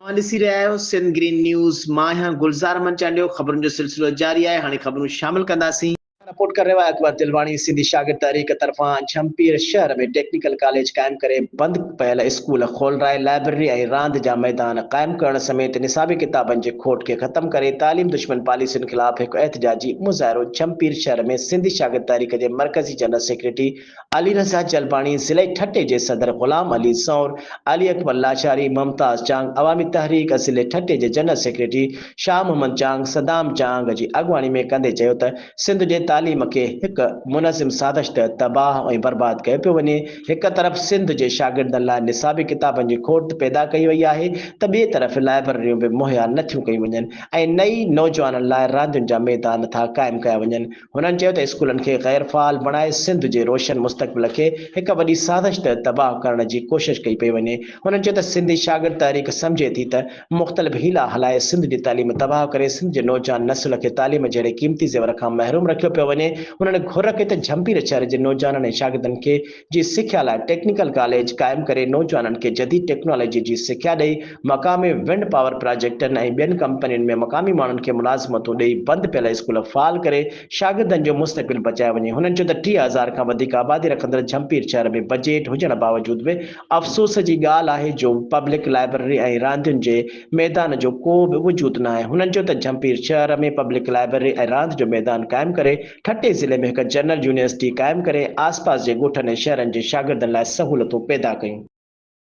اوهان ڏسي رهيا آهيو سنڌ گرين نيوز مان آهيان گلزار احمد چانڊيو خبرن جو سلسلو جاري آهي هاڻي خبرون شامل ڪنداسين. رپورٽ ڪري رهيو آهي اڪبر تلواڻي سنڌي شاگرد تحريڪ طرفان جهمپير شهر ۾ ٽيڪنيڪل ڪاليج قائم ڪري بند پيل اسڪول کولرائي لائبرري ۽ راند جا ميدان قائم ڪرڻ سميت نصابي ڪتابن جي کوٽ کي ختم ڪري تعليم دشمن پاليسين خلاف هڪ احتجاجي مظاهرو جهمپير شهر ۾ سنڌي شاگرد تحريڪ جي مرڪزي جنرل سيڪريٽري علي رضا جلباڻي، ضلعي ٺٽي جي صدر غلام علي سور، علي اڪبر لاچاري، ممتاز چانگ، عوامي تحريڪ ضلعي ٺٽي جي جنرل سيڪريٽري شاهه محمد چانگ، صدام چانگ، جي اڳواڻي ۾ ڪندي چيو ته سنڌ جي تعليم کي هڪ منظم سازش تحت تباهه ۽ برباد ڪيو پيو وڃي، هڪ طرف سنڌ جي شاگردن لاء نصابي ڪتابن جي کوٽ پيدا ڪئي وئي آهي ته ٻئي طرف لائبرريون به مهيا نٿيون ڪيون وڃن ۽ نه ئي نوجوانن لاء راندين جا ميدان ٿا قائم ڪيا وڃن، هنن چيو ته اسڪولن کي غير فعال بڻائي سنڌ جي روشن مستقبل کي هڪ وڏي سازش تحت تباهه ڪرڻ جي ڪوشش ڪئي پئي وڃي. هنن چيو ته سنڌي شاگرد تحريڪ سمجهي ٿي ته مختلف حيلا هلائي سنڌ جي تعليم تباهه ڪري سنڌ جي نوجوان نسل کي تعليم جهڙي قيمتي زيور کان محروم رکيو پيو وڃي. هنن گهر ڪئي ته جهمپير شهر جي نوجوانن ۽ شاگردن کي جي سکيا لاء ٽيڪنيڪل ڪاليج قائم ڪري نوجوانن کي جديد ٽيڪنالاجي جي سکيا ڏئي، مقامي ونڊ پاور پراجيڪٽن ۽ ٻين ڪمپنين ۾ مقامي ماڻهن کي ملازمتون ڏئي بند پيل اسڪول فعال ڪري شاگردن جو مستقبل بچايو وڃي، هنن چيو ته ٽيهه هزار کان وڌيڪ آبادي رکندڙ جهمپير شهر ۾ بجيٽ هجڻ باوجود به افسوس جي ڳالهه آهي جو پبلڪ لائبرري ۽ راندين جي ميدان جو ڪو به وجود ناهي، هنن چيو ته جهمپير شهر ۾ پبلڪ لائبرري ۽ راند جو ميدان قائم ڪري ٺٽي ضلعي ۾ هڪ جنرل يونيورسٽي قائم ڪري آسپاس جي ڳوٺن ۽ شهرن جي شاگردن لاء سهولتون پيدا ڪيون.